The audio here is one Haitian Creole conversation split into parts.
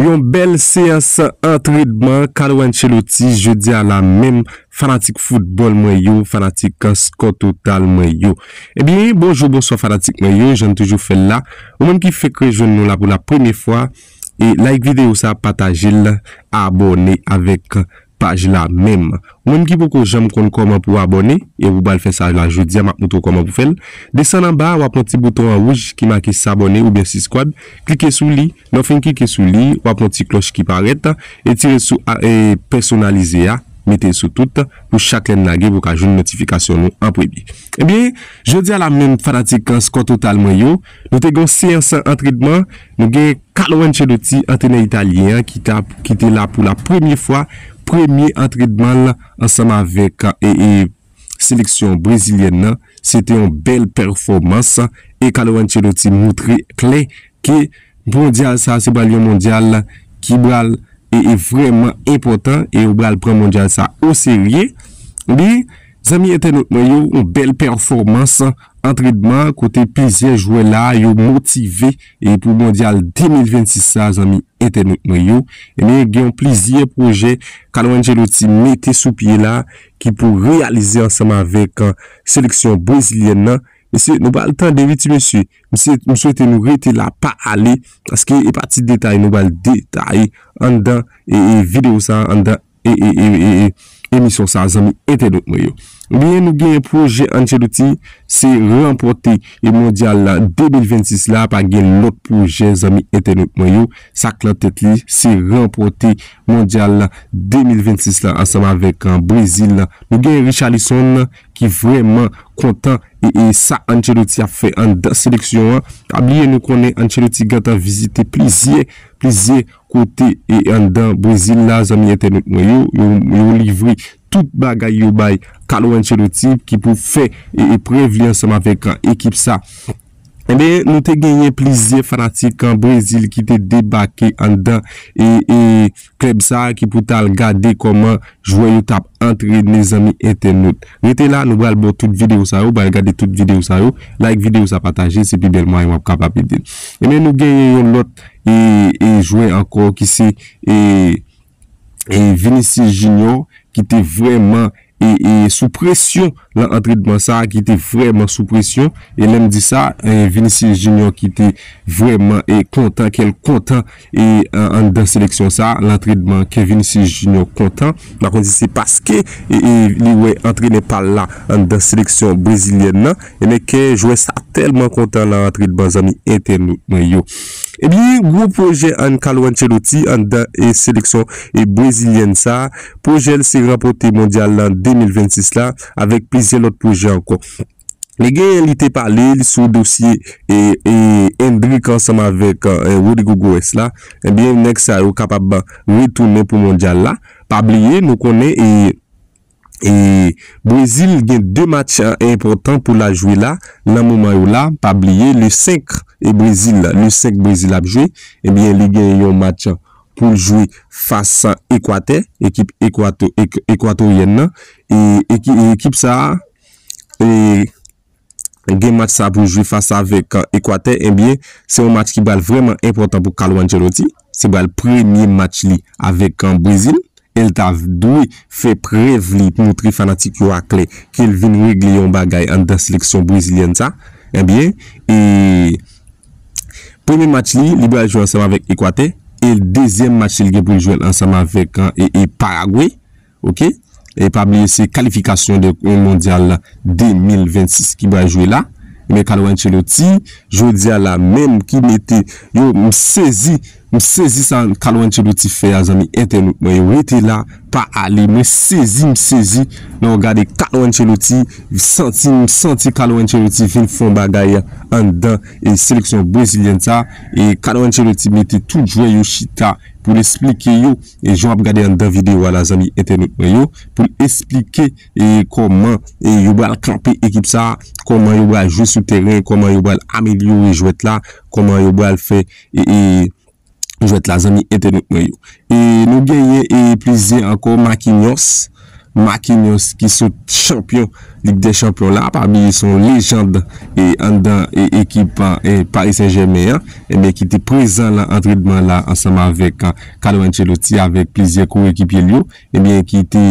Yon bèl seyans antredman Carlo Ancelotti jodi a la menm fanatik foutbòl mwen yo, fanatik Score Total mwen yo. Ebyen bonjou bonswa fanatik mwen yo, janm toujou fèl la, ou menm ki fèk rejwenn nou la pou la premye fwa, like videyo sa, patajel, abòne avèk. paj la menm. Ou menm ki poko janm konn kòman pou abòne e ou pral fè sa la jodi a map moutre w kòman pou fèl. Desann anba a wap wè yon ti bouton an wouj ki make sabòne oubyen siskwab klike sou li lè w fin klike sou li wap wè yon ti klòch ki parèt etire sou a e pèsonalize a mete l sou tout pou chak lè n lage pou w ka jwenn notifikasyon nou an premye. Ebyen jodi a la menm fanatik Skòtotal mwen yo nou te gen yon seyans antredman. Nou gen Carlo Ancelotti, antrenè italyen an ki ta ki te la pou la premye fwa premye antrenman l ansanm avèk seleksyon brezilyèn nan. Se te yon bèl pèfòmans e Carlo Ancelotti moutre klè ke mondyal sa se pral yon mondyal ki pral vrèman enpòtan e yo pral pran mondyal sa oserye. Li zanmi entènot mwen yo, yon bèl pèfòmans Antrenman kote plizyè jwè la a yo motive e pou mondyal 2026 sa a zanmi entènot mwen yo ebyen gen yon plizyè pwojè Carlo Ancelotti mete sou pye la ki pou reyalize ansanm avèk seleksyon brezilyèn nan mesye nou pral tande wi ti mesye mesye m swete nou rete la pa ale paske e pa ti detay nou pral detaye anndan e videyo sa a anndan emisyon sa zanmi entènot mwen yo. Ebyen nou gen pwojè Ancelotti se ranpòte e mondyal la 2026 la pa gen lòt pwojè zanmi entènot mwen yo sak nan tèt li se ranpòte mondyal la 2026 la ansanm avèk Brezil la nou gen Richarlison ki vrèman kontan e sa Ancelotti ap fè anndan seleksyon an pa bliye nou konnen Ancelotti gentan vizite plizyè plizyè kote e anndan Brezil la zanmi entènot mwen yo, yo livre tout bagay yo bay Carlo Ancelotti ki pou fè prèv li ansanm avèk ekip sa. Enben nou te genyen plizyè fanatik Brezil ki te debake anndan e klèb sa ki pou tal gade kòman jwè yo tap antrene zanmi entènot. Rete la nou pral baw tout videyo sa yo, pral gade tout videyo sa yo, like videyo sa pataje se pi bèl mwayen wap kapab ede m. Enben nou genyen yon lòt e jwè ankò ki se e Vinicius Junior ki te vrèman e e sou presyon lan antredman sa a ki te vrèman sou presyon e lè m di sa e Vinicius Junior ki te vrèman e kontan kè l kontan e anndan seleksyon sa a lan antredman kè Vinicius Junior kontan m pa konn si se paske e e li wè antrenè pa l la anndan seleksyon brezilyèn nan. Ebyen kè jwè sa tèlman kontan nan antre de ban zanmi entènot mwen yo. Ebyen gwo pwojè an Carlo Ancelotti anndan e seleksyon e brezilyèn sa, pwojè l se ranpòte mondyal lan 2026 la avèk plizyè lòt pwojè ankò. Li genyen li te pale li sou dosye e e Endrick ansanm avèk e Rodrygo Goes la, ebyen nèg sa yo kapab retounen pou mondyal la, pa bliye nou konnen e. E Brezil gen 2 match enpòtan pou la jwe la nan moman yo la pa bliye le 5 e Brezil le 5 Brezil ap jwe ebyen li gen yon match poul jwe fas Ekwatè ekip Ekwato Ekwatoryèn nan e ekip sa e. gen match sa pou jwe fas avèk Ekwatè ebyen se yon match ki pral vrèman enpòtan pou Carlo Ancelotti, se pral premye match li avèk Brezil el ta dwe fè prèv li moutre fanatik yo a klè kel vin regle yon bagay anndan seleksyon brezilyèn sa ebyen e premye match li, li pral jwe ansanm avèk Ekwatè e dezyèm match li l gen poul jwel ansanm avèk Paragwe Ok e pa bliye se kalifikasyon de mondyal 2026 ki bal jwe la men Carlo Ancelotti jodia la menm ki mete yo m sezi m sezi sa Carlo Ancelotti fè a zanmi entènot mwen yo rete la pa ale mwen sezi m sezi lè w gade Carlo Ancelotti santi m santi Carlo Ancelotti vin fon bagay anndan seleksyon brezilyèn sa e Carlo Ancelotti mete tout jwè yo chita. pou l esplike yo e jan w ap gade anndan videyo a la zanmi entènot mwen yo pou l esplike e kòman e yo bal kanpe ekip sa a kòman yo bal jwe sou tèren kòman yo bal amelyore jwèt la kòman yo bal fè e e jwèt la zanmi entènot mwen yo e nou genyen e plizyè ankò makinyòs. Marquinhos ki sot chanpyon Lig dè Chanpyon la, pa bliye se yon lejand anndan ekip Paris Saint Germain an, ebyen ki te prezan nan antrenman la ansanm avèk Carlo Ancelotti avèk plizyè korekipye l yo, ebyen ki te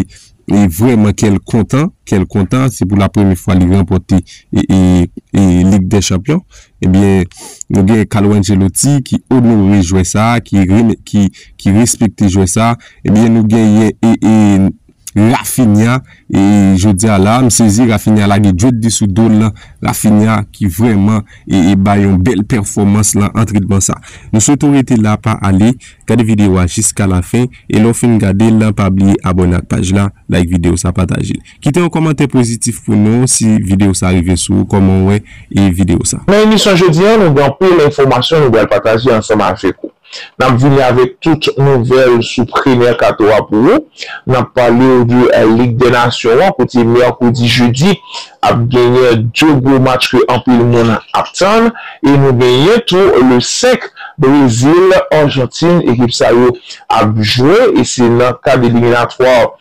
vrèman kè l kontan, kè l kontan se pou la premye fwa li ranpòte Lig dè Chanpyon. Ebyen, nou gen Carlo Ancelotti ki onore jwè sa, ki respekte jwè sa. Ebyen, nou genyen Raphinha. E jodi a la, m sezi Raphinha lage djwet li sou do l lan. Raphinha ki vrèman bay yon bèl pèfòmans lan antrenman sa. Nou swete w rete la, pa ale. Gade videyo a jiska lafen. E lè w fin gade l, pa bliye abòne ak paj la, like videyo sa, pataje l. Kite yon kòmantè pozitif pou nou si video sa rive sou ou kòman ou wè e video sa. Nan emisyon jodi an nou gen anpil enfòmasyon nou pral pataje ansanm avèk ou. Nap vini avèk tout nouvèl sou pre mercato a pou ou. Nap pale ou de lig dè nasyon an kote mèkredi jedi ap genyen 2 gwo match ke anpil moun ap tann e nou genyen tou le 5 Brezil Argentine ekip sa yo ap jwe e se nan kad eliminatwa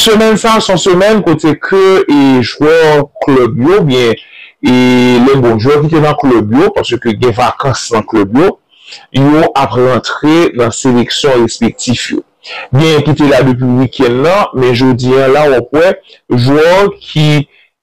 Semèn sa a son semèn kote ke e jwè klub yo ou byen e le bon jwè ki te nan klub yo pase ke gen vakans nan klub yo, yo ap rantre nan seleksyon respektif yo. Genyen ki te la depi weekend nan men jodi an la wap wè jwè ki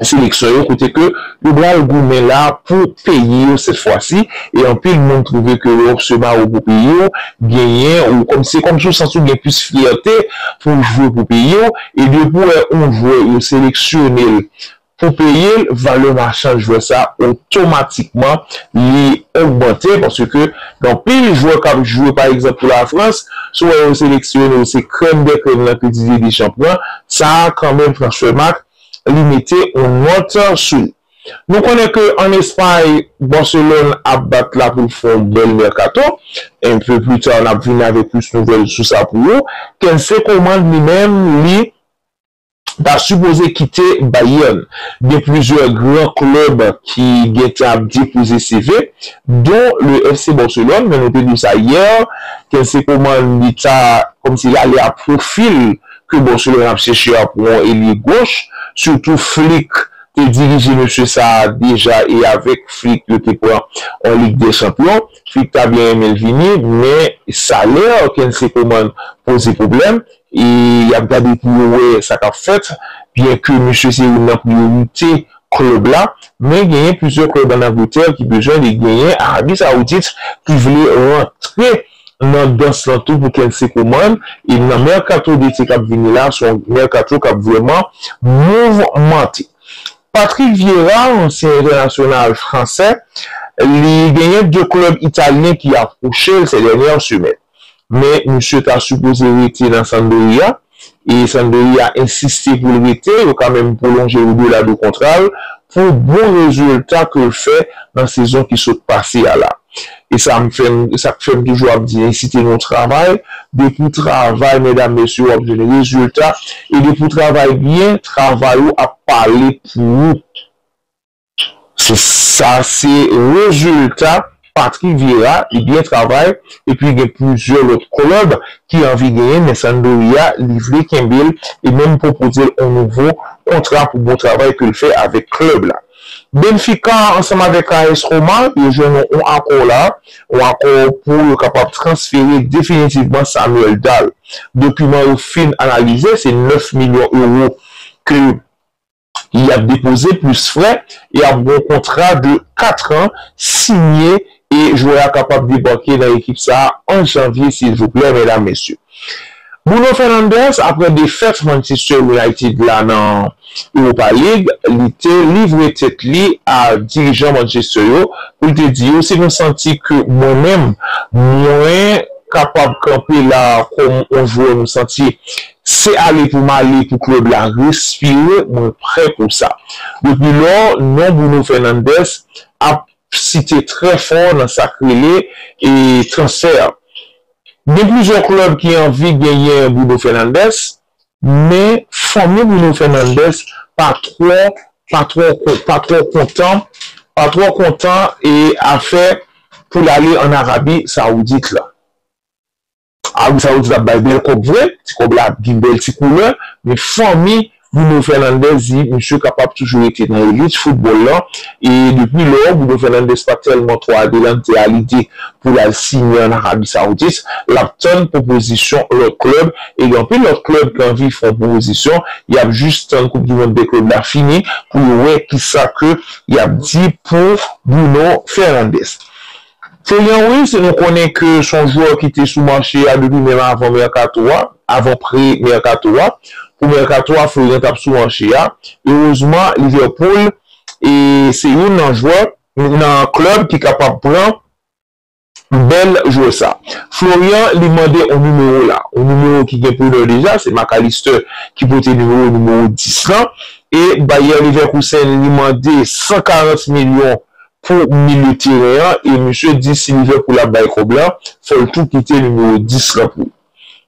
seleksyon yo kote ke yo bral goumen la pou peyi yo sèt fwa si e anpil moun twouve ke lè w se mawo pou peyi w genyen ou kòm se kòm si w santi w gen plis fyète pou w jwe pou peyi w e depi w wè yon jwè yo seleksyone l pou peyi l valè machan jwè sa otomatikman li ogmante paske ke gen anpil jwè k ap jwe pa egzanp pou lafrans si w wè yo seleksyone l se krèm dè krèm lan ke Didier Deschamps pran sa kanmenm transfèmak li mete on nòt sou li. Nou konnen ke an Espay, Barcelone ap bat la pou l fè on bèl mercato. Un peu plus tard n ap vini avèk plis nouvèl sou sa pou ou. Kelsey Coman li menm li ta sipoze kite Bayern. Gen plizyè gran klèb ki gen tan ap depoze CV don le FC Barcelone men nou te di w sa hier, Kelsey Coman li ta kòmsi l ale a profil. ke bò sou lè nap chèche a pou yon elye goch, sitou Flick te dirije mesye sa a deja e avèk Flick yo te pran yon Lig dè Chanpyon. Flick ta byen renmen l vini men salè Kensey Coman poze pwoblèm e yap gade pou yo wè sa kap fèt byen ke mesye se youn nan priyorite klèb la men genyen plizyè klèb an Angletè ki bezwen li genyen Arabi Saoudit ki vle rantre nan dans lan tou pou Kency Coman e nan mercato d'été kap vini la se yon mercato kap vrèman mouvmante. Patrick Vieira, ansyen entènasyonal fransè, li genyen 2 klèb italyen ki apwoche l sè dènyè semèn men misye ta sipoze rete nan Sampdoria e Sampdoria ensiste pou l rete, yo ka menm pwolonje l odela de kontra l pou bon rezilta ke l fè nan sezon ki sot pase a la. E sa m fè m, sa k fè m toujou ap di ensite nou travay, depi w travay medam mesye w ap jwenn rezilta, e depi w travay byen, travay ou ap pale pou ou. Se sa se rezilta Patrick Vieira, li byen travay epi gen plizyè lòt klèb ki anvi genyen men Sampdoria li vle kenbe l e menm pwopoze l on nouvo kontra pou bon travay ke l fè avèk klèb la. Benfica ansanm avèk AS Roma yo jwenn on akò la, on akò pou yo kapab transfere definitivman Samuel Dahl. Dokiman yo fin analize se 9 milyon euro ke Li ap depoze plis frè e ap gon kontra de 4 an sinye e jwè a kapab debake nan ekip sa an janvye silvouplè medam mesye. Bruno Fernandes aprè defèt Manchester United la nan Europa League li te livre tèt li a dirijan Manchester yo pou l te di yo si nou santi ke mwen menm mwen kapab kanpe la kòm on jwè nou santi Se ale pou m ale pou club la respire, mwen prè pou sa. Depi lò, non Bruno Fernandes ap site trè fò nan sa k rele transfè. Gen plizyè club ki anvi genyen Bruno Fernandes, men fanmi Bruno Fernandes pa twò pa twò pa twò kontan pa twò kontan afè pou l ale an Arabi Saoudit la. Arabi Saoudit ap bay bèl kòb vre, ti kòb la ap gen bèl ti koulè, men fanmi Bruno Fernandes di misye kapab toujou rete nan elit foutbòl lan e depi lò, Bruno Fernandes pa tèlman twò adelante a lide pou l al siyen ann Arabi Saoudit, l ap tann pwopozisyon lòt klèb e gen anpil lòt klèb ki anvi fè yon pwopozisyon, y ap jis tann koup di mond dè klèb la fini pou yo wè kisa ke y ap di pou Bruno Fernandes. Se yon wi si nou konnen ke son jwè ki te sou mache a depi menm avan mèkato a, avan pre mèkato a. Pou mèkato a Florian tap sou mache a. Erezman Liverpool se youn nan jwè nan club ki kapab pran bèl jwè sa. Florian li mande on nimewo la. On nimewo ki gen preneur deja se Mac Allister ki pote nimewo nimewo 10 lan. E Bayer Leverkusen li mande 140 milyon pou milye teren an e misye di si Liverpool ap bay kòb la fò l tou kite nimewo 10 lan pou l.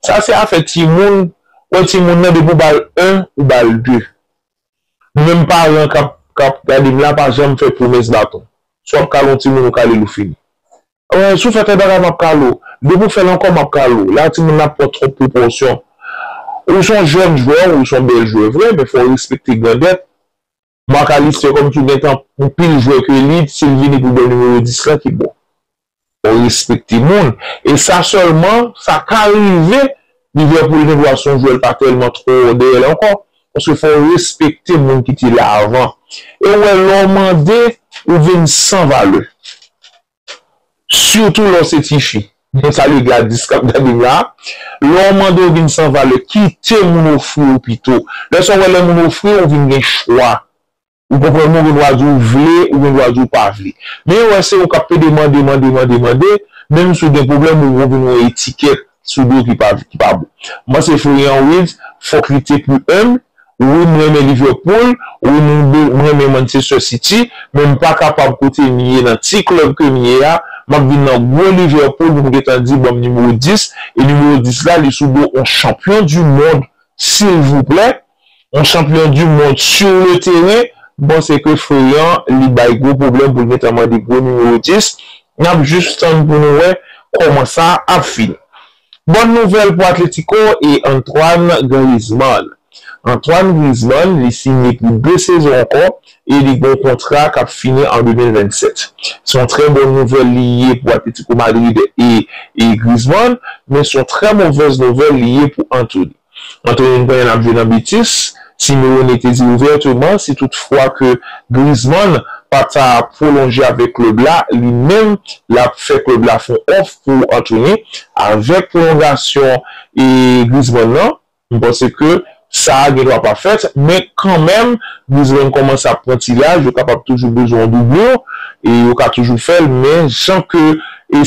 Sa se afè timoun, wè timoun nan depi w ba l 1 ou ba l 2. Nou menm paran k ap gade m la pa janm fè pwomès baton. Si w ap kale yon timoun ou kale l ou fini. Wè si w fè tèl bagay m ap kale w, depi w fè l ankò m ap kale w. La timoun nan ap pran twòp pwopòsyon. Ou s on jèn jwè, ou s on bèl jwè vre men fò w respekte grandèt. Marc Alister kòm ki gentan anpil jwè ke li si l vini pou bò nimewo 10 lan ki bon. Fò w respekte moun. E sa sèlman sa ka rive Liverpool gen dwa se yon jwè l pa tèlman twò dèyè l ankò. Paske fò w respekte moun ki te la avan. E w wè lè w mande ou vin san valè. Sitou lè w se tifi. Mwen salye Gladys k ap gade m la. Lè w mande w vin san valè, kite moun ofri w pito. Lè sa w wè lè moun ofri w, ou vin gen chwa. Ou konprann mwen, ou gen dwa di w vle, ou gen dwa di w pa vle. Men yo wè se ou k ap pede mande, mande, mande, mande, menm si w gen pwoblèm ou vin yon etikèt. Sou do ki pa ki pa bon. M panse Florian Wirtz fok li te plus humble, wi m renmen Liverpool, wi m renmen Manchester City, men m pa kapab kote m ye nan ti club ke m ye a, map vin nan gwo Liverpool pou m gentan di banm numéro 10, e numéro 10 la li sou do on champion du monde silvouplè. Yon chanpyon du mond sur le teren, bon se ke Ferran li bay gwo pwoblèm pou l gentan mande gwo nimewo 10, n ap jis tann pou nou wè kòman sa ap fini. Bòn nouvèl pou Atlético e Antoine Griezmann. Antoine Griezmann li sinye pou 2 sezon ankò e li gen yon kontra k ap fini an 2027. Se yon trè bòn nouvèl li ye pou Atlético Madrid e Griezmann, men se yon trè movèz nouvèl li ye pou Antony. Antre yon grenn ap jwe nan betis, Simeone te di ouvèteman si tout fwa ke Griezmann pa ta pwolonje avèk klèb la, li menm lap fè klèb la fon òf pou antrene avèk pwolongasyon Griezmann nan. M panse ke sa a gen dwa pa fèt, men kanmenm Griezmann kòmanse ap pran ti laj, yo kapab toujou bezwen yon doublure e yo ka toujou fèl, men jan ke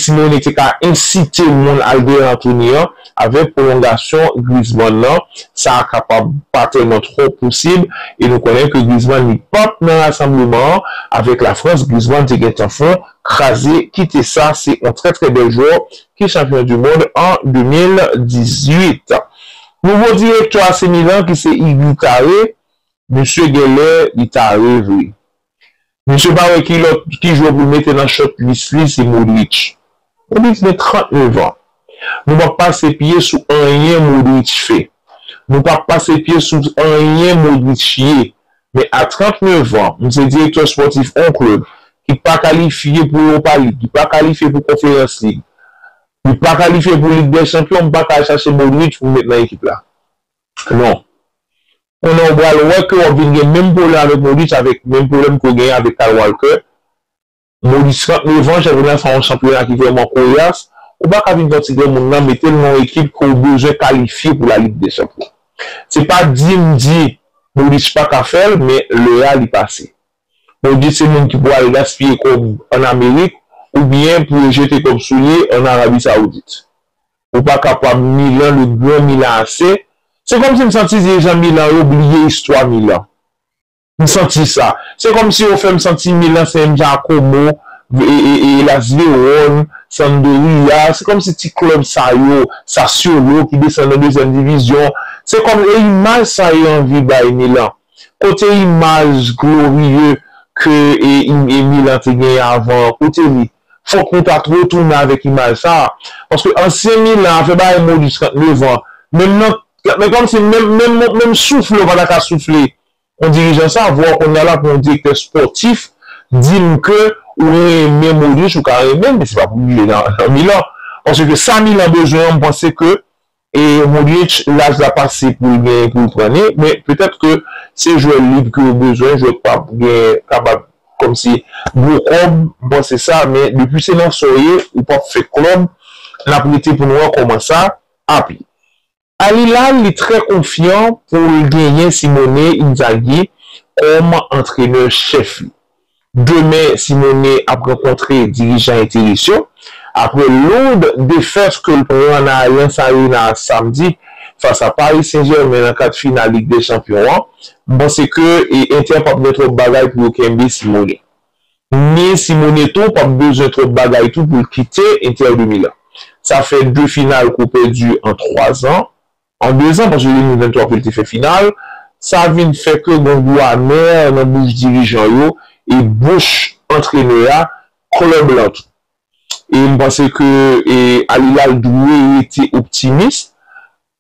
Simeone te ka ensite moun al dèyè antrene an, Avèk pwolongasyon Griezmann nan, sa a kapab pa tèlman twò posib e nou konnen ke Griezmann li pap nan rasanbleman an avèk la Frans, Griezmann te gentan fon kraze kite sa se yon trè trè bèl jwè ki chanpyon du mond an 2018. Nouvo direktè AC Milan ki se Igui Tare, misye genlè li tare vre. Misye pa wè ki lòt ki jwè pou l mete nan chòt lis li se Modric. Modric gen 39 ans. Nou pap pase pye sou anyen Modric fè. Nou pap pase pye sou anyen Modric ye. Men a 39 ans, m se direktè spòtif on klèb ki pa kalifye pou Europa League, ki pa kalifye pou Conference League, li pa kalifye pou Ligue des Champions, m pa ka al chache Modric pou m met nan ekip la. Non. konnen ou pral wè ke wap vin gen menm pwoblèm avèk Modis avèk menm pwoblèm ke ou genyen avèk Kyle Walker. Modis pran revanj avèk nan fè yon chanpyona ki vrèman koryas, ou pa ka vin pran ti granmoun nan metel nan yon ekip ke ou bezwen kalifye pou la Lig dè Chanpyon. Se pa di m di Modis pa ka fèl men lè a li pase. Modis se moun ki pou al gaspiye kòb an Amerik oubyen pou yo jete kòb sou li an Arabi Saoudit. Ou pa kapab Milan le grand Milan ase Se kòmsi m santi dirijan Milan yo bliye istwa Milan M santi sa Se kòmsi yo fè m santi Milan se m jan Komo Elas Verone Sandoria Se kòmsi ti klèb sa yo Sassuolo ki desann nan dezyèm divizyon Se kòm e imaj sa yo anvi bay Milan Kote imaj glorieux ke Milan te genyen avan an Kote li? Fòk nou ta retounen avèk imaj sa a. Paske ansyen Milan a fè bagay Modric 39 an, menm nan men kòmsi menm menm soufle ou pa ta ka soufle yon dirijan sa a, vwa w konn ala pou yon direktè spòtif di m ke ou renmen Modric, ou ka renmen l men se pa pou li nan Milan. Paske sa Milan bezwen an m panse ke E Modric laj la pase poul gen poul pran ni men petèt ke se jwè lib ke yo bezwen jwè ki pap gen kapab kòmsi gwo kòb m panse sa men depi se nan sa w ye ou pap fè klòb nap rete pou nou wè kòman sa ap ye. Al Hilal li trè konfyan poul genyen Simone Inzaghi kòm antrenè chèf li. Demen Simone ap rankontre dirijan Eteris yo apre loud defèt ke l pran nan Allianz Arena Samdi fas a Paris Saint Germain nan kad final Lig dè Chanpyon an. M panse ke Inter pap gen twòp bagay pou yo kenbe Simone. Ni Simone tou pap bezwen twòp bagay tou pou l kite Inter de Milan. Sa fè 2 final ke w pèdi an 3 zan. An dezan, paske 2023 ke l te fè final, sa vin fè ke gen gou amè nan bouch dirijan yo e bouch antrenè a, klèb lan tou. E m panse ke Al Hilal dwe rete optimis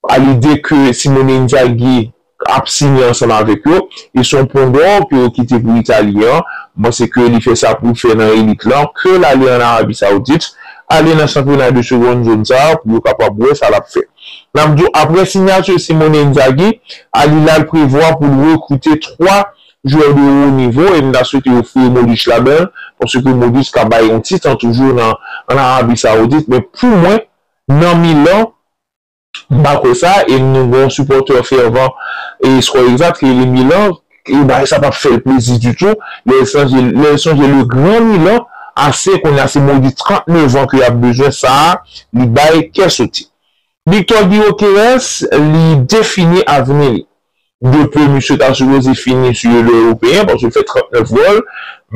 a lide ke Simone Inzaghi ap siyen ansanm avèk yo. E se yon pon dò ke yo kite pou Italyen an. M panse ke li fè sa pou l fè nan elit lan, ke l ale an Arabie Saoudite, ale nan chanpyona de seconde zone sa a pou yo kapab wè sa l ap fè. N ap di w aprè sinyati Simone Inzaghi, Al Hilal prevwa pou l rekrite 3 jwè de wo nivo e m ta swete yo foure Modric ladan l paske Modric ka bay yon ti tan toujou nan an Arabi Saoudit men pou mwen nan Milan m pa kwè sa e nou gen yon sipòtè fèvan e skor egzat ki rele Milan E bagay sa pap fèl plezi ditou lèl sonje lèl sonje le grand Milan AC kounya se modi 39 ans ke yap bezwen sa li bay kè soti. Victor Gyokeres li defini avni li. De peu misye ta sipoze fini su le Europeen paske l fè 39 gòl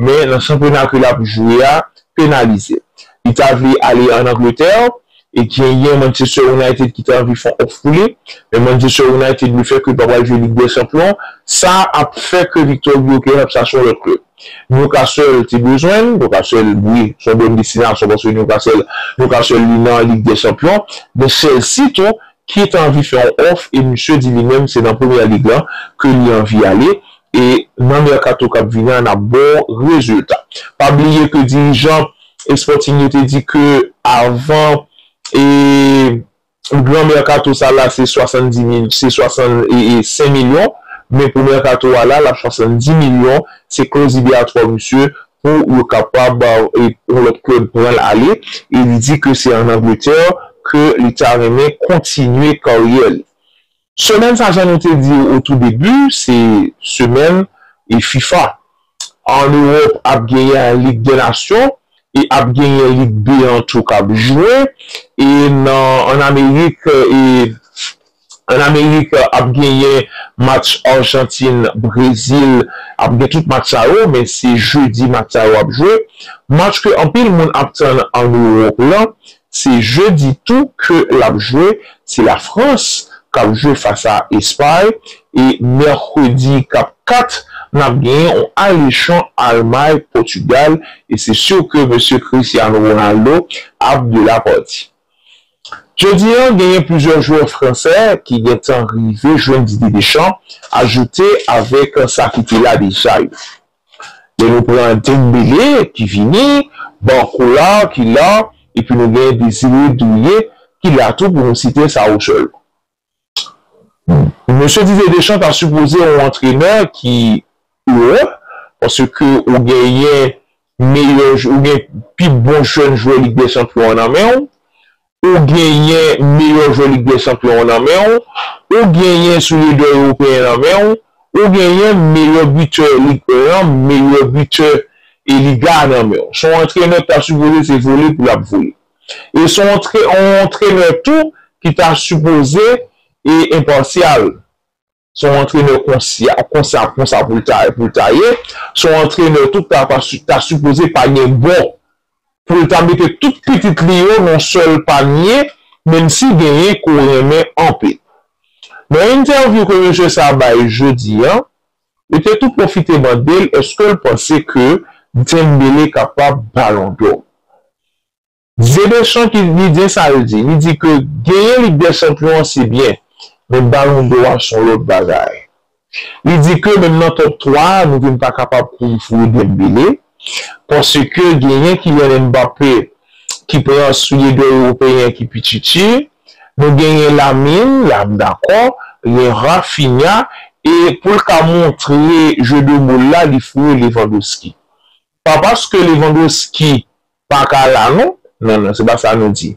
men nan chanpyona ke lap jwe a penalizel. Li ta vle ale an Angleterre E genyen Manchester United ki ta anvi fè yon òf pou li, men Manchester United le fè ke li pa pral jwe Lig dè Chanpyon an, sa ap fè ke Victor Gyökeres ap chache yon lòt klèb. Newcastle te bezwen l, Newcastle wi, se yon bòn destinasyon paske Newcastle, Newcastle li nan Lig dè Chanpyon, men Chelsea tou ki ta anvi fè yon òf e misye di li menm se nan Premier League lan ke li anvi ale e nan mercato kap vini an ap ba w rezilta. Pa bliye ke dirijan Sporting yo te di ke avan e gran mercato sa la se 70 mil se 65 milyon men pou mercato a la lap 70 milyon se clause liberatoire misye pou yo kapab yon lot club pranl ale e li di ke se an Angleterre ke li ta renmen kontinye karyè li. Semèn sa jan nou te di o tou debu se semèn e fifa an erop ap genyen an lig dè nasyon e ap genyen lig be an tou kap jwe e nan an amerik e an amerik ap genyen match arjantin brezil ap gen tout match sa yo men se jedi match sa yo ap jwe match ke anpil moun ap tann an erop lan Se jedi tou ke lap jwe, se la Frans kap jwe fas a Espay e mèkredi kap 4 nap genyen on alechon Almay Pòtugal e se sur ke mesye Cristiano Ronaldo ap de la parti. Jodi an genyen plizyè jwè fransè ki gentan rive jwenn Didier Deschamps ajoute avèk sa ki te la deja yo. Lè nou pran Dembele ki vini, Barcola ki la epi nou gen Désiré Doué ki la tou pou nou site sa yo sèlman. Mesye Didier Deschamps ta sipoze yon antrenè ki heureux paske ou genyen meyè ou gen pi bon jèn jwè Lig dè Chanpyon an nan men w. Ou genyen meyò jwè Lig dè Chanpyon an nan men w, ou genyen soulye dò Ewopeyen nan men w, ou genyen meyò bitè Lig 1 an, meyò bitè e Liga a nan men w. S on antrenè k ta sipoze se vole pou l ap vole. E s on antrenè tou ki ta sipoze e enpasyal. Se yon antrenè konsya, konsa, konsa pou l ta, pou l ta ye. Se yon antrenè tou k ta pa si, ta sipoze pa gen bon pou l ta mete tout pitit li yo nan yon sèl panye, menm si genyen ke w renmen anpe. Nan entèvyou ke mesye sa a bay jodi a, yo te tou pwofite mande l èske l panse ke Dembele kapab Balon dò. Didier Deschamps ki li di sa l di, li di ke genyen Lig dè Chanpyon an se byen, men Balon dò a son lòt bagay. Li di ke menm nan Top 3 a nou vin pa kapab konn foure Dembele, paske genyen Kylian Mbappé ki pran soulye dò ewopeyen ki pi tchitchi, nou genyen Lamine, la m dakò, gen Raphinha e pou l ka montre jeu de mots l la li foure Lewandowski. pa paske Lewandowski pa ka la non, non non se pa sa nou di.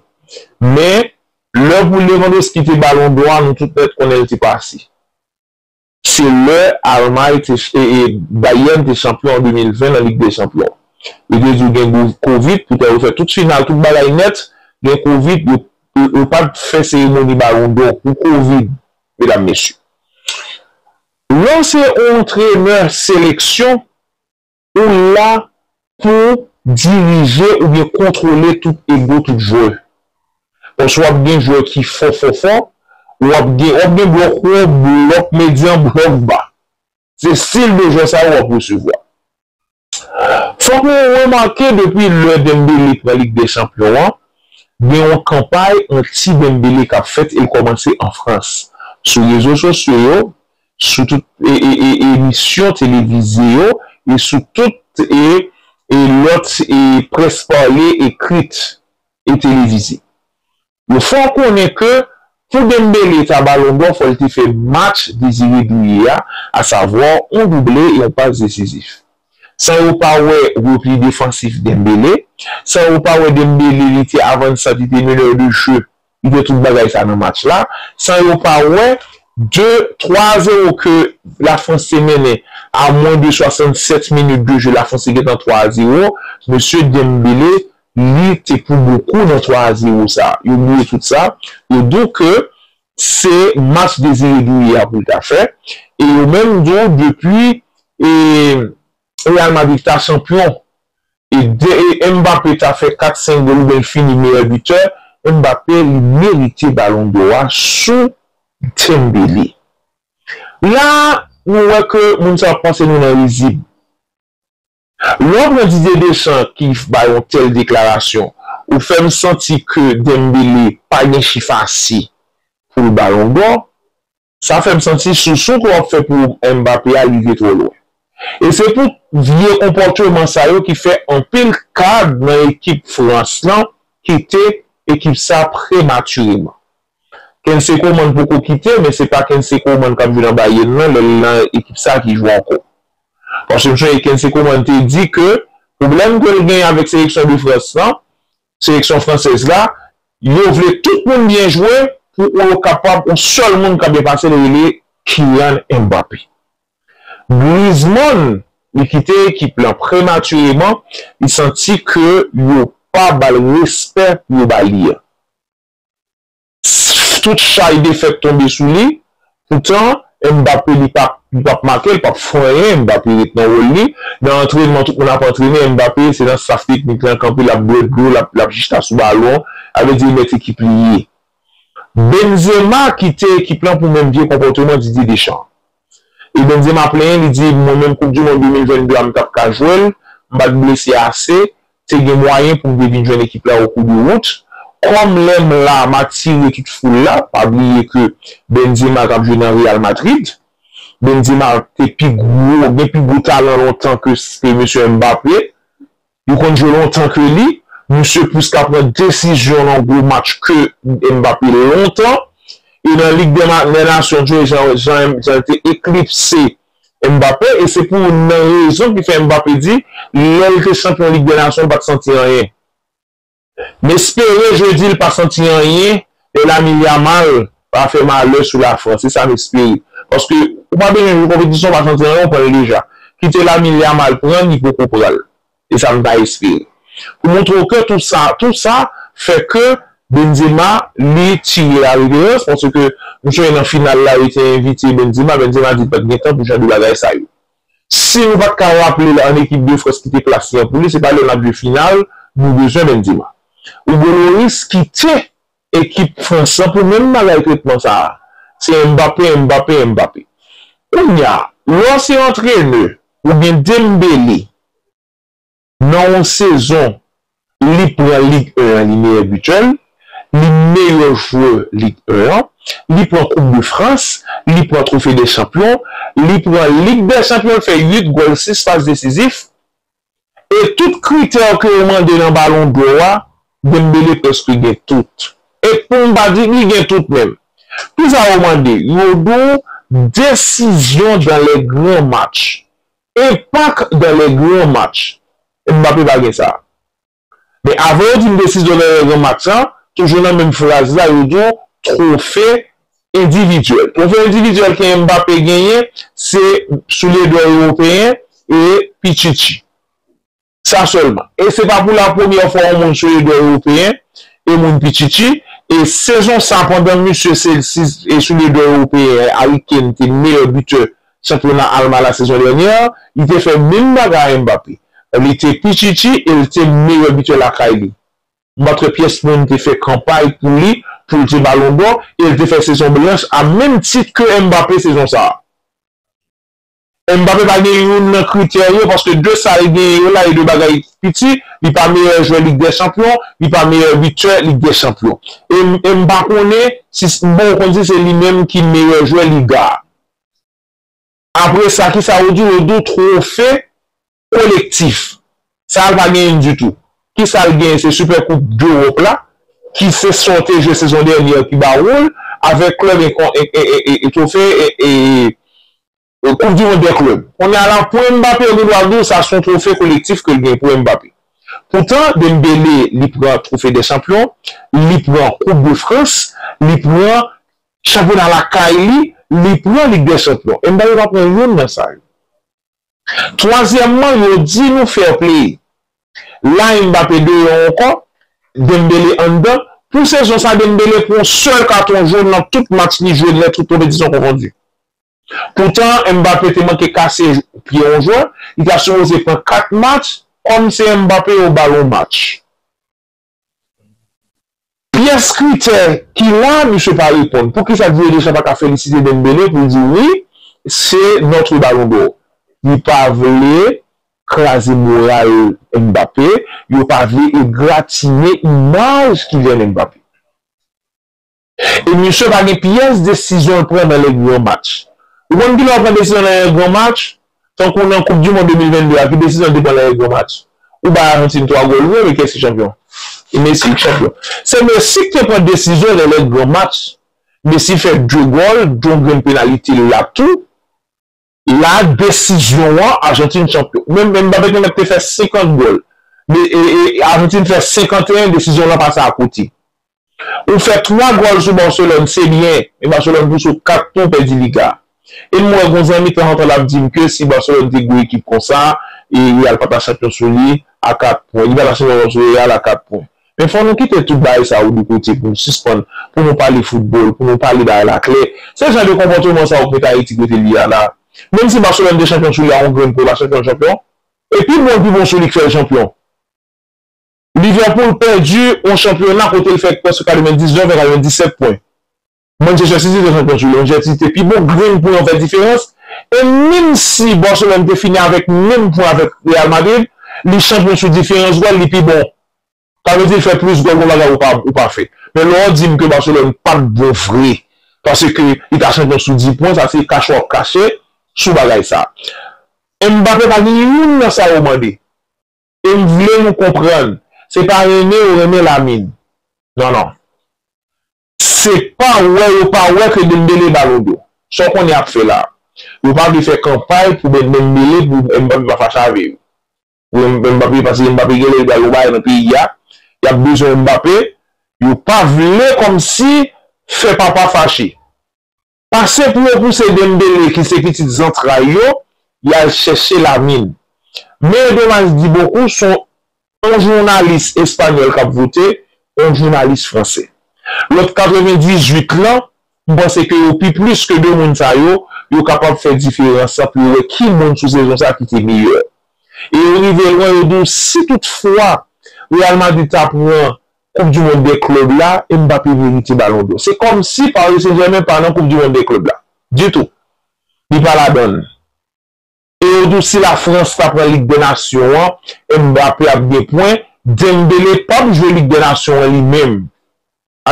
Men lè pou Lewandowski te balon dò a nou tout nèt konnen l te pase. Se lè Almay te e Bayern te chanpyon an 2020 nan lig dè chanpyon. Yo te di w gen covid poutan yo fè tout final tout bagay nèt gen covid yo yo pat fè seremoni balon dò pou covid medam mesye. Lè w se yon antrenè seleksyon Ou la pou dirije oubyen kontwole tout ego tout jwè. Paske wap gen jwè ki fò fò fò, wap gen wap gen blòk wo, blòk medyan, blòk ba. Se stil de jwè sa yo wap resevwa. Fòk nou remake depi lè Dembele pran lig dè chanpyon an, gen yon kanpay anti Dembele kap fèt e l kòmanse an Frans. Sou rezo sosyo yo, sou tout emisyon televize yo e sou tout lòt près pale, ekrit e televize. Yo fè w konnen ke pou Dembele ta Balon dò fò l te fè match Désiré Doué a, asavwa yon double e yon pas desizif. San yo pa wè repli defansif Dembele, san yo pa wè Dembele li te avansan, li te meneur de jeu Li gen tout bagay sa nan match la, san yo pa wè 2, 3 a 0 ke La Frans te mennen a mwen de 67 minit de je, La Frans te gentan 3 a 0, mesye Dembele li te pou bokou nan 3 a 0 sa, yo bliye tout sa, yo di w ke se match Désiré Douye a pou l ta fè, e yo menm di w depi e. Real Madrid ta chanpyon e e Mbappé ta fè 4 5 gòl oubyen l fini meyè bitè Mbappé li merite balon dò a sou Dembele la nou wè ke moun sa ap pase nou nan rizib lè w pran Didier Deschamps ki bay yon tèl deklarasyon ou fè m santi ke Dembele pa gen chif ase pou l balon dò. Sa fèm santi sousou ke wap fè pou Mbappé a rive twò lwen. E se pou vye konpòteman sa yo ki fè anpil kad nan ekip Frans lan kite ekip sa prematireman. Kensey Coman poko kite men se pa Kensey Coman kap jwe nan Bayern nan lèl nan ekip sa ki jwe ankò. Paske m sonje Kensey Coman te di ke pwoblèm kel gen avèk seleksyon de Frans lan seleksyon fransèz la, yo vle tout moun byen jwe pou ou yo kapab yon sèl moun ka byen pase li rele Kylian Mbappé. Griezmann li kite ekip lan prematireman, li santi ke yo pa bal respè pou yo ba li an. Tout chay defèt tonbe sou li. Poutan, Mbappé li pa li pap make, li pap fè anyen, Mbappé ret nan wòl li. Nan antrenman tout moun ap antrene, Mbappé se nan staff teknik lan kanpe lap bwè dlo, lap lap jista sou balon, sa vle di li mèt ekip li ye. Benzema kite ekip lan pou menm vye konpòteman Didier Deschamps. E Bondye m a plenyen li di mwen menm koup du mond 2022 a m tap ka jwe l, m pat blese ase, te gen mwayen pou m te vin jwenn ekip la okou de wout, kòm lè m la m atire tout foul la, pa bliye ke Benzema kap jwe nan Real Madrid, Benzema te pi gwo, gen pi gwo talan lontan ke mesye Mbappé, Yo konn jwe lontan ke li, misye plis ka pran desizyon nan gwo match ke Mbappé lontan, e nan Lig dè Nasyon jwe jan li te eklipse Mbappé, e se pou youn nan rezon ki fè Mbappé di lè li te chanpyon Lig dè Nasyon li pat santi anyen. M espere jodi l pa santi anyen e Lamine Yamal pa fè malè sou Lafrans. Se sa m espere. Paske ou pa bezwen jwe konpetisyon ou pa santi anyen ou pran l deja. Kite Lamine Yamal pran l li poko pran l. Se sa m ta espere. Pou montre w ke tou sa, tou sa fè ke Benzema li tire la reverans paske m sonje nan final la yo te envite Benzema, Benzema di l pa t gen tan pou jan de bagay sa yo. Si nou pat ka raple l an ekip de Frans ki te klase an poul li, se pa lè n ap jwe final nou bezwen Benzema. Hugo Lloris kite ekip Frans lan pou menm bagay tretman sa a, se Mbappé, Mbappé, Mbappé. Kounya lè w se antrenè ou gen Dembélé, Nan yon sezon, li pran Lig 1 an li meyè bitè l, li meyè jwè Lig 1 an, li pran koup de Frans, li pran twofe dè chanpyon, li pran Lig dè chanpyon, l fè 8 gòl 6 pas desizif, e tout kritè ke yo mande nan balon dò a, Dembele prèske gen tout. E pou m pa di li gen tout menm. Kisa yo mande? Yo di w desizyon dan lè gran match. Impact dans les grands matchs Mbappé pa gen sa. Men avan yo di m desizyon nan yon gran match la, toujou nan menm fraz la yo di w twofe endividyèl. Twofe endividyèl ke Mbappé genyen se soulye dò ewopeyen e Pichichi. Sa sèlman. E se pa pou la premyè fwa yon moun soye dwè Ewopeyen e moun pi chichi. E sezon sa pandan misye se e souliye dwè Ewopeyen an, Harry Kane te meyè bitè chanpyona Alman la sezon dènyè a. Li te fè menm bagay a Mbappé. Li te pi chichi e li te meyè bitè lakay li. Matre pyès moun te fè kanpay pou li pou li te Balon dò e li te fè sezon blanch a menm tit ke Mbappé sezon sa a. Mbappé pa gen youn nan kritè yo paske de sa l genyen yo la e de bagay piti, li pa meyè jwè Lig dè Chanpyon, li pa meyè bitè Lig dè Chanpyon. E e m pa konnen si m poko konn si se li menm ki meyè jwè Liga a. Apre sa kisa ou di w, ou di w twofe Kolektif. Sa l pa genyen ditou. Kisa l genyen se Super Koup dEwòp la ki se sa w te jwe sezon dènye an ki ba w l avèk klèb etofe e Koup di mond dè klèb. Kounye a la pou Mbappé yo gen dwa di w sa se yon twofe kolektif ke l genyen pou Mbappé. Poutan Dembele li pran twofe dè chanpyon, li pran koup de Frans, li pran chanpyona lakay li, li pran lig dè chanpyon. Mbappé pa pran youn nan sa yo. Twazyèmman yo di nou fair play. La Mbappé deyò ankò, Dembélé anndan, pou sezon sa Dembélé pran sèl katon jòn nan tout match li jwe lè tout konpetisyon konfondi. Poutan Mbappé te manke kase pye yon jwè, li ta sipoze pran 4 match, kòm se Mbappé yo bal yon match. Pyès kritè ki la misye pa reponn. Poukisa Didier Deschamps pa ka felisite Dembele pou l di wi se notre ballon d'or. Li pa vle kraze moral Mbappé, yo pa vle egratinye imaj Kylian Mbappé. E misye pa gen pyès desizyon l pran nan lè gran match. Ou konn kilè w pran desizyon nan lè gran match? Tankou nan koup dimond 2022 a ki desizyon l te pran nan lè gran match? Ou bay Ajantin 3 gòl vre men kiyès ki chanpyon? E Messi ki chanpyon. Se Messi ki te pran desizyon nan lè gran match. Messi fè 2 gòl, 2 grenn penalite la tou. La desizyon an Ajantin chanpyon. Men Mbappé te mèt te fè 50 gòl men Ajantin fè 51 desizyon lan pase akote. Ou fè 3 gòl sou Barcelone se byen men Barcelone tou sou 4 tou pèdi Liga. E m wè gon zanmi tanzantan l ap di m ke si Barcelone te gwo ekip konsa e Real pa ta chanpyon sou li a 4 pwen. Li pa ta chanpyon sou Real a 4 pwen. Men fò nou kite tout bagay sa yo de kote pou nou sispann pou nou pale foutbòl, pou nou pale bagay la klè. Se jan de konpòteman sa yo k met Ayiti kote li ye a la. Menm si Barcelone te chanpyon sou li a yon grenn po la chanpyon chanpyon. E pi bon pi bon sou li k fè l chanpyon. Liverpool pèdi yon chanpyona kote l fè prèske 99 vè 97 pwen. Manchester City te fè match yo, Manchester City te pi bon, grenn pwen an fè diferans, e menm si Barcelone te fini avèk menm pwen avèk Real Madrid, li chanpyon sou diferans gòl, li pi bon. Sa vle di fè plis gòl gon bagay ou pa ou pa fè. Men lè w di m ke Barcelone pat bon vre paske li ta chanpyon sou 10 pwen sa se kache wap kache sou bagay sa. Mbappé pa gen youn nan sa yo mande. E m vle nou konprann, se pa renmen ou renmen Lamine. Non non. Se pa wè yo pa wè ke Dembele balon do. Sa w konnen ap fè la. Yo pa vle fè kanpay pou Dembele pou Mbappe pa fache avè yo. Pou Mbappe paske Mbappe genlè li pral yon bagay nan peyi a. Yap bezwen Mbappe. Yo pa vle kòmsi fè papa fache. Pase pou yo pouse Dembele ki se pitit zantray yo, y al chèche Lamine. Me Domas di bokou son on jounalis espanyòl k ap vote on jounalis franse. Lòt 98 lan, m panse ke yo pi plis ke 2 moun sa yo, yo kapab fè diferans lan pou yo wè ki moun sou sezon sa ki te meyè. E yo rive lwen, yo di w si tout fwa Real Madrid ta pran koup du mond dè klub la e Mbappé merite balon dò. Se kòm si Paris Saint Germain pa nan koup du mond dè klub la ditou. Li pa ladann. E yo di w si la France ta pran lig dè nasyon an Mbappé ap gen pwen, Dembélé pap jwe lig dè nasyon an li menm.